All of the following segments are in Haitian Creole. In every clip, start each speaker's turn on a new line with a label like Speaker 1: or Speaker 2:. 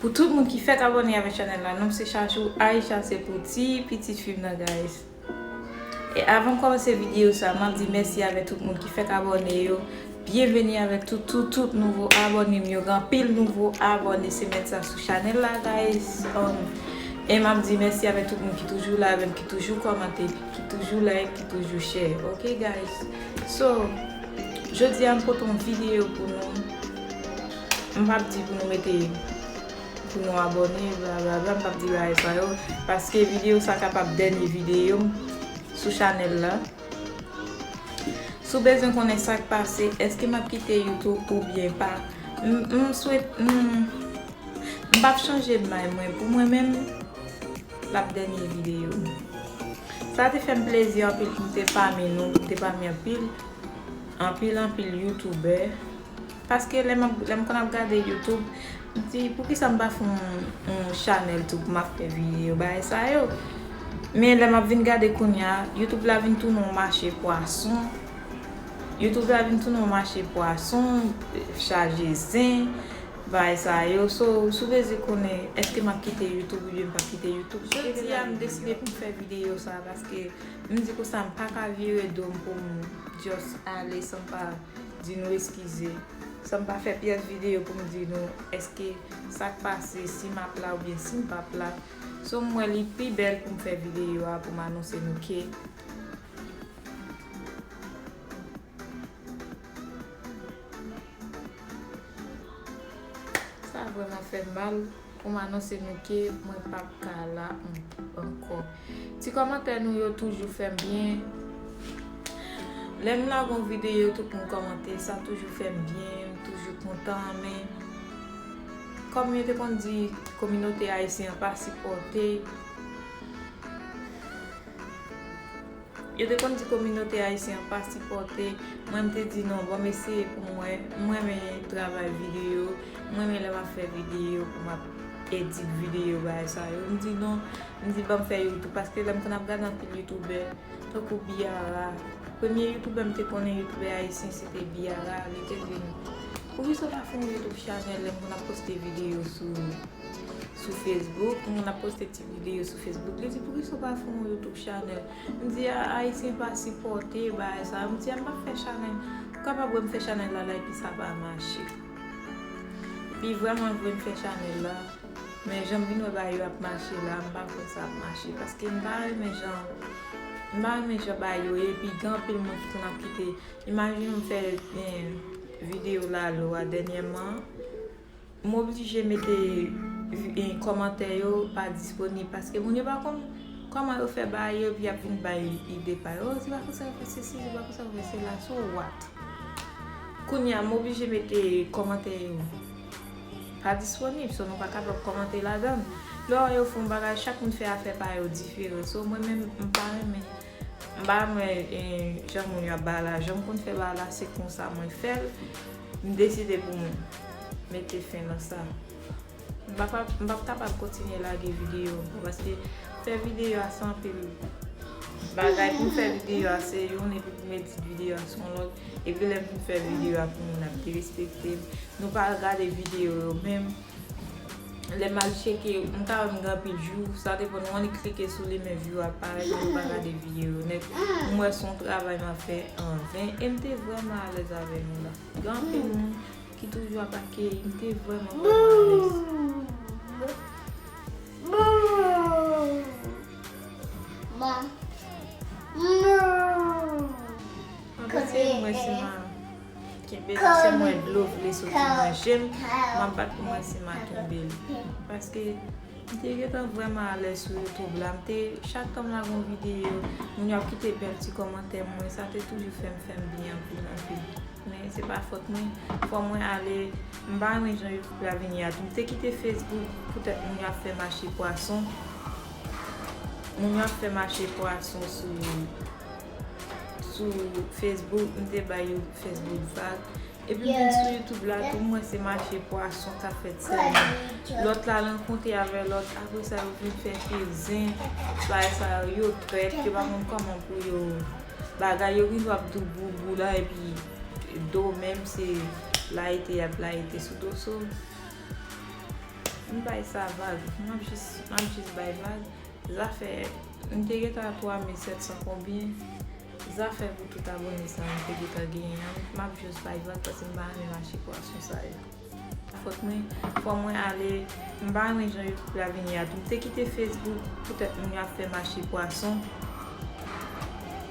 Speaker 1: Pou tout moun ki fèt abone avèk chanèl la nonm se chachou Aïcha se pou ti pitit fim nan guys e avanm kòmanse video sa map di mèsi avèk tout moun ki fèk abone yo byenveni avèk tout tout tout nouvo abònem yo gen anpil nouvo abòne semèn sa sou chanèl la guys humm e map di mèsi avèk tout moun ki toujou la avèm ki toujou kòmante ki toujou like ki toujou share ok guys so jodia m pote yon video pou nou. M pap di pou nou mete pou nou abòne bla bla bla m pap di bagay sa yo paske videyo sa kapab dènye videyo m sou chanèl la Si w bezwen konnen sa k pase èske m ap kite youtube oubyen pa m swete m pap chanje dmay mwen pou mwen menm l ap dènye videyo m Sa te fè m plezi anpil pou m te pami nou pou m te pami anpil anpil anpil youtubè Paske lè map lèm konn ap gade YouTube m di poukisa m pa fè yon chanèl tou pou map fè video bagay sa yo men lè map vin gade kounya YouTube la vin tounen yon mache pwason YouTube la vin tounen yon mache pwason chaje zen bagay sa yo so sou bezwen konnen eske map kite YouTube oubyen m pap kite YouTube sou bezwen Jodia m deside poum fè video sa paske m di konsa m paka vire dom poum just ale san m pa Di nou eskize. San m pa fè pyès videyo pou m di nou èske sa k pase, si m ap la oubyen si m p ap la. So m wè li pi bèl pou m fè videyo a pou m anonse nou ke. Sa vrèman fè m mal. Pou m anonse nou ke mwen pa p ka la ankò. Ti kòmantè nou yo toujou fè m byen. Lè m lage yon videyo tout moun kòmante, sa toujou fè m byen, m toujou kontan. Men, kòm yo te konn di kominote ayisyen an pa sipòte. Yo te konn di kominote ayisyen an pa sipòte mwen, m te di non bon m eseye pou m wè, m renmen travay videyo, m renmen lè m ap fè videyo pou m ap edit videyo bagay sa yo, m di non, m di ban m fè youtube paske lè m konn ap gade anpil youtubè tankou Biara, premye youtubè m te konnen youtubè ayisyen se te Biara, li te di m poukisa w pa fè yon youtube chanèl lè m konn ap poste videyo sou facebook, m konn ap poste ti. ti video sou Facebook li di poukisa ou pa fè yon YouTube channel m di a ayisyen pa sipòte bagay sa yo m di a m pa fè channel ou kapab wè m fè channel la la epi sa pa mache epi vrèman vre m fè channel la men jan m vin wè bagay yo ap mache la m pa kwè sa ap mache paske m pa renmen jan m pa renmen jan bagay yo ye epi gen anpil moun ki konn ap kite imajine m fè video lalo a dènyèman M oblije mete kòmantè yo pa disponib paske moun yo pa konn kòman yo fè bagay yo epi yap vin bay ide pa yo oh se pa konsa yo fè sesi se pa konsa yo fè sela so what kounye a m oblije mete kòmantè yo pa disponib so nou pa kapab kòmante ladan l lè w wè yo fè yon bagay chak moun fè afè pa yo diferan so mwen menm m pa renmen m pa renmen jan moun yo ap bay lajan m konn fè bagay la se konsa mwen fè l. M deside pou m mete fen nan sa. M pa m pap kapab kontinye lage videyo ankò paske fè videyo a se anpil bagay pou m fè videyo a se youn epi pou m edit videyo a se yon lòt epi lè m fin fè videyo a pou moun ap derespekte m nou pa gade videyo yo menm. Lè mal cheke, m ka wè m gen anpil view, sa depan nou an li klike sou li men view a pa parèt mwen pa gade vye yo nèt. M wè son travay map fè an ven e m te vrèman alèz avè nou la. Gen anpil moun ki toujou ap akeyi m te vrèman vrèman alèz. Kenbe la sem wè dlo vle soti nan jem map bat pou mwen si ma kenbel paske m te gentan vrèman alèz sou youtube la m te chak tan m lage yon videyo moun yo ap kite bèl ti kòmantè pou mwen sa te toujou fèm fèm byen anpil anpil men se pa fòt mwen fò mwen ale m pa renmen jan youtube la vini a tou m te kite facebook poutèt moun yo ap fè mache pwason moun yo ap fè mache pwason sou Sou Facebook, m te bay yon Facebook vag. Epi m vin sou YouTube la tou, m wè se mache pwason k ap fèt sèlman. Lòt la rankontre avè lòt, apre sa yo vin fè fil zen. Bagay sa yo, yo trèt, yo pa konn kòman pou yo bagay. Yo vin ap di boubou la epi do menm se layite y ap layite sou do. So, m bay sa vag. M ap jis bay vag. Zafè m te gentan a 3700 konbyen Zafè pou tout abone sa m te gentan genyen an map jus bay vag paske m pa renmen mache pwason sa yo. Sa fòt mwen fò mwen ale m pa renmen jan youtube la vini a tou m te kite facebook poutèt moun yo ap fè mache pwason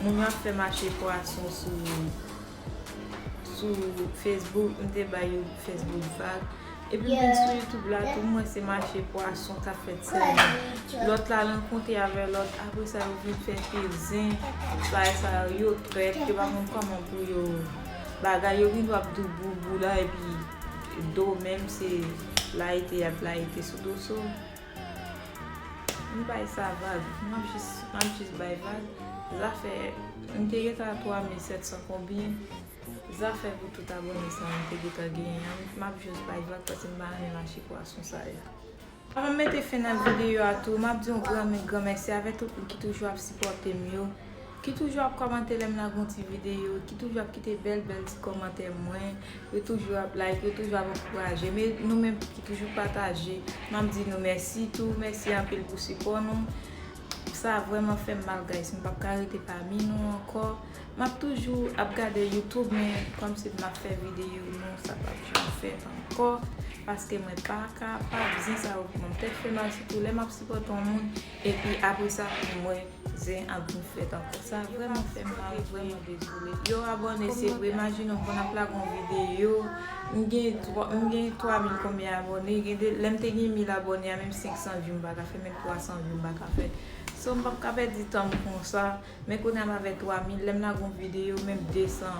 Speaker 1: moun yo ap fè mache pwason sou Sou Facebook m te bay yon Facebook vag. Epi m vin sou YouTube la tou mwen se mache pwason kap fèt sèlman. Lòt la rankontre avè lòt apre sa yo vin fè pezin. Bagay sa yo yo trèt yo pa konn kòman pou yo bagay yo vin wap dou boubou la epi do menm se layite yap layite sou do so. M bay sa vag. M ap jis, m ap jis bay vag. Zafè, m te gentan a 3700 konbyen. Zafè pou tout abone sa yo m te gentan genyen an. M ap jis bay vag paske m pa renmen mache pwason sa yo. Avan m mete fen nan videyo a tou, m ap di yon gran men gran mèsi avè tout moun ki toujou ap sipòte m yo. Ki toujou ap kòmante lèm lage yon ti video, ki toujou ap kite bèl bèl ti kòmantè mwen, yo toujou ap like, yo toujou ap ankourajem, e nou menm ki toujou pataje, map di nou mèsi tou, mèsi anpil pou sipò nou, sa vrèman fèm mal guys, m pap ka rete pami nou ankò, map toujou ap gade youtube men kòm se map fè video non sa pap janm fèt ankò, paske mwen pa kapab, zen sa yo pranm tèt fè mal sitou lè map sipòte yon moun. Epi apre sa pou m wè zen ap vin fèt ankò. Sa vrèman fè m mal, vrèman dezoule. Yo abòne se vre, imajine w konn ap lage yon videyo, m gen 3 mil konbyen abòne, gen de lè m te gen 1000 abòne a menm 500 vyou m pa ka fè, menm 300 vyou m pa ka fè. So m p ap ka pèdi tan m konsa, men kounye a m avè 3 mil, lè m lage yon videyo menm 200,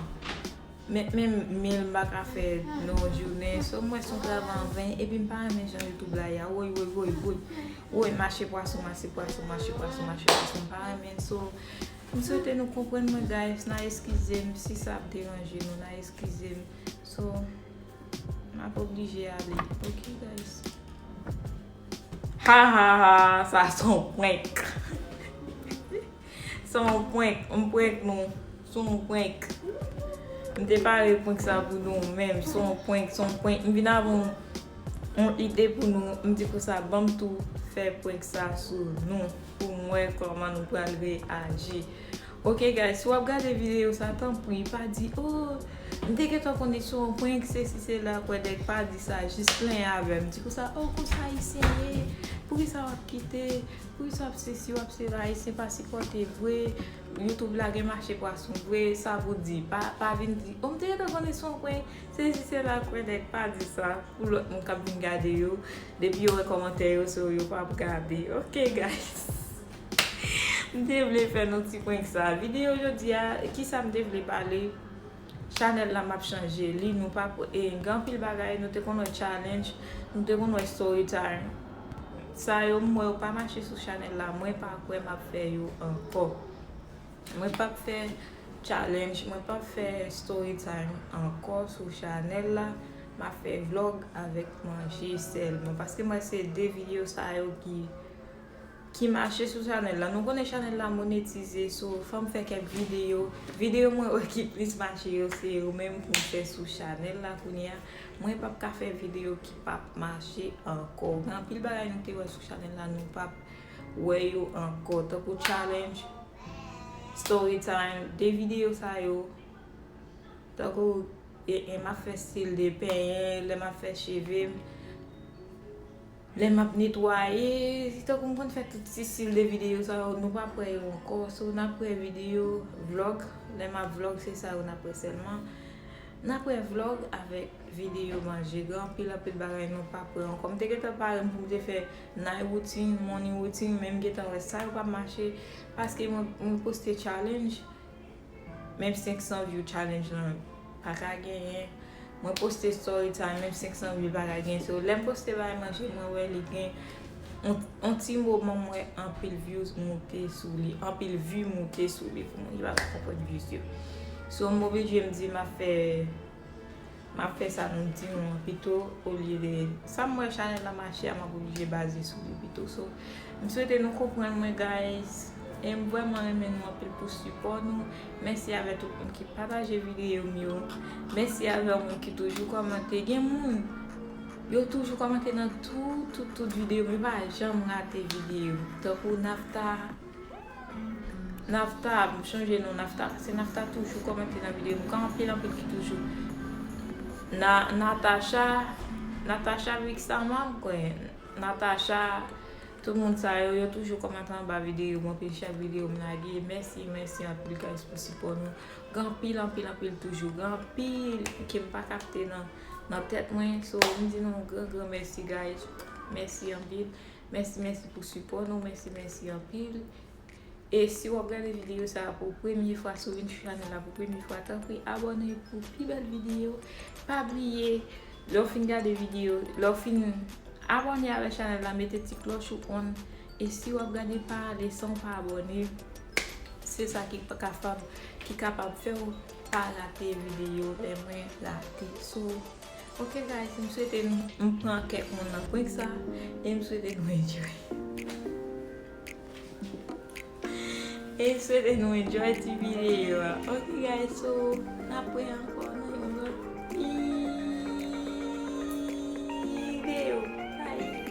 Speaker 1: menm 1000 m pa ka fè nan yon jounen. So m wè se yon travay an ven, epi m pa renmen jan youtube la ye a, woy woy woy woy. Woy mache pwason mache pwason mache pwason mache pwason m pa renmen so m swete nou konprann mwen guys nan eskize m si sa ap deranje nou nan eskize m so m ap oblije ale ok guys. Hahahaa sa son prank. Sa yon prank, m prank nou, sa yon prank M te pare prank sa pou nou men sa yon prank, sa yon prank M vin avè yon ide pou nou, m di konsa banm tou fè prank sa sou nou pou m wè kòman nou pral reyaji Ok guys, si w ap gade videyo sa tanpri pa di oh m te gentan konn li se yon prank sesi sela kwèdèk pa di sa jis plen avè m di konsa oh konsa ayisyen ye poukisa w ap kite Wi sa ap sesi wap se ayisyen pa sipòte vre YouTube la gen mache pwason vre sa pou di pa vin di oh mte gentan konnen son prank sesi sela kwè nèg pa di sa pou lòt moun kap vin gade yo depi yo wè kòmantè yo se yo pap gade ok guys mte vle fè nou ti prank sa video jodia kisa mte vle pale. Chanel la map chanje li nou pa gen anpil bagay nou te konn wè challenge nou te konn wè story time sa yo m wè yo pa mache sou chanel la mwen pa kwè map fè yo ankò mwen pap fè challenge mwen pap fè story time ankò sou chanel la map fè vlog avèk manje sèlman paske m wè se 2 video sa yo ki ki mache sou chanèl la nou konnen chanèl la monetize so fòm fè kèk videyo videyo mwen wè ki plis mache yo se yo menm pou m fè sou chanèl la kounye a mwen pap ka fè videyo ki pap mache ankò gen anpil bagay nou te wè sou chanèl la nou pap wè yo ankò tankou challenge story time de videyo sa yo tankou e m ap fè stil de penyen lè m ap fè cheve m Lè map netwaye, se tankou m konn fè tout ti stil de videyo sa yo, nou pap wè yo ankò, so nap wè videyo, vlog, lè map vlog se sa yo nap wè sèlman. Nap wè vlog avèk videyo manje, gen anpil anpil bagay nou pap wè ankò. M te gentan pare m pou m te fè night routine, morning routine, men m gentan wè sa yo pap mache paske mwen poste challenge. Menm 500 view challenge lan paka genyen. Mwen poste story time menm 500 view paka genyen. So lèm poste bay manje mwen wè li gen on ti moman mwen wè anpil views moute sou li. Anpil view moute sou li. Pou mwen ki paka konprann views yo. So m oblije m di ma fè. Map fè sa nou di nou an pito olye de sam wè chanèl la mache a map oblije baze sou li pito so m swete nou konprann mwen guys em vrèman renmen nou anpil pou sipò nou mèsi avè tout moun ki pataje videyo m yo mèsi avè moun ki toujou kòmante gen moun yo toujou kòmante nan tout tout tout videyo m yo pa janm rate videyo tankou naphtha. Nafta, m chanje non Nafta pase Nafta toujou komante nan video m kan anpil anpil ki toujou Na, Natacha, Natacha Vixama m kwe, Natacha tout moun sa yo yo toujou komante anba video m anpil chak video m lage mèsi mèsi anpil guys pou sipo nou gen anpil anpil anpil toujou gen anpil ke m pa kapte nan nan tet mwen so m di nou gran gran mèsi guys mèsi anpil Mèsi mèsi pou sipò nou mèsi mèsi anpil e si wap gade videyo sa pou premye fwa si w vin sou chanèl la pou premye fwa tanpri abòne pou pi bèl videyo pa bliye lè w fin gade videyo lè w fin abòne avèk chanèl la mete ti klòch ou on e si wap gade pa ale san w pa abòne se sa ki kapab fè w pa rate videyo lè mwen lage sou Ok guys m swete m pran kèk moun nan prank sa e m swete nou enjoy e m swete nou enjoy ti video a ok guys so n ap wè ankò nan yon lòt video bye